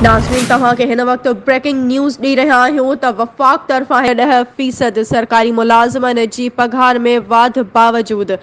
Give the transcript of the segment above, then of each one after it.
ناظرين توهان کي هن وقت بريڪنگ نيوز ڏئي رهيا آهيون ته وفاق طرفان هي ڏهه فيصد سرڪاري ملازمن جي پگهار ۾ واڌ باوجود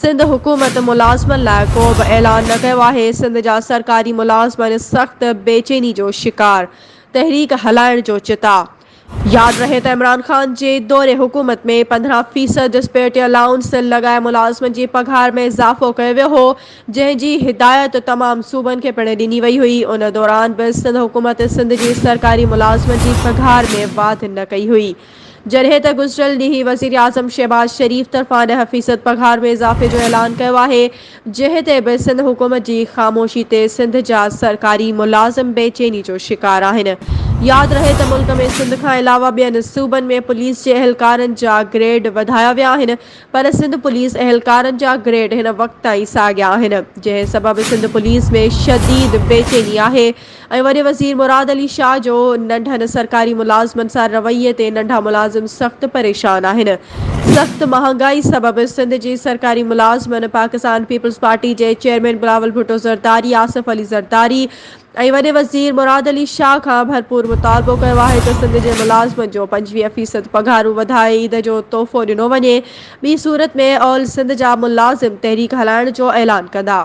سنڌ حڪومت ملازمن لاء ڪو به اعلان نه ڪيو آهي سنڌ جا سرڪاري ملازمن سخت بيچيني جو شڪار تحريڪ هلائڻ جو چتاء ياد رهي ته عمران خان جي دور حڪومت ۾ پندرهن فيصد ڊسپيرٽي الائونس لڳائي ملازمن جي پگهار ۾ اضافو ڪيو ويو هو، جنهن جي هدايت تمام صوبن کي پڻ ڏني وئي هئي، ان دوران به سنڌ حڪومت سنڌ جي سرڪاري ملازمن جي پگهار ۾ واڌ نه ڪئي هئي، جڏهن ته گذريل ڏينهن وزيراعظم شهباز شريف طرفان ڏهه فيصد پگهار ۾ اضافي جو اعلان ڪيو آهي. جنهن تي به سنڌ حڪومت جي خاموشي تي سنڌ جا سرڪاري ملازم بي چيني جو شڪار آهن. ياد رهي ته ملڪ ۾ سنڌ کان علاوه ٻين صوبن ۾ پوليس جي اهلڪارن جا گريڊ وڌايا ويا آهن پر سنڌ پوليس اهلڪارن جا گريڊ هن وقت تائين ساڳيا آهن جنهن سبب سنڌ پوليس ۾ شديد بيچيني آهي ۽ وڏي وزير مراد علي شاهه جو ننڍن سرڪاري ملازمن سان رويي تي ننڍا ملازم سخت پريشان آهن، سخت مهانگائي سبب سنڌ جي سرڪاري ملازمن پاڪستان پيپلز پارٽي جي چيئرمين بلاول ڀٽو زرداري، آصف علي زرداري ۽ وڏي وزير مراد علي شاهه کان ڀرپور مطالبو ڪيو آهي ته سنڌ جي ملازمن جون پنجويهه فيصد پگهارون وڌائي عيد جو تحفو ڏنو وڃي، ٻي صورت ۾ آل سنڌ جا ملازم تحريڪ هلائڻ جو اعلان ڪندا.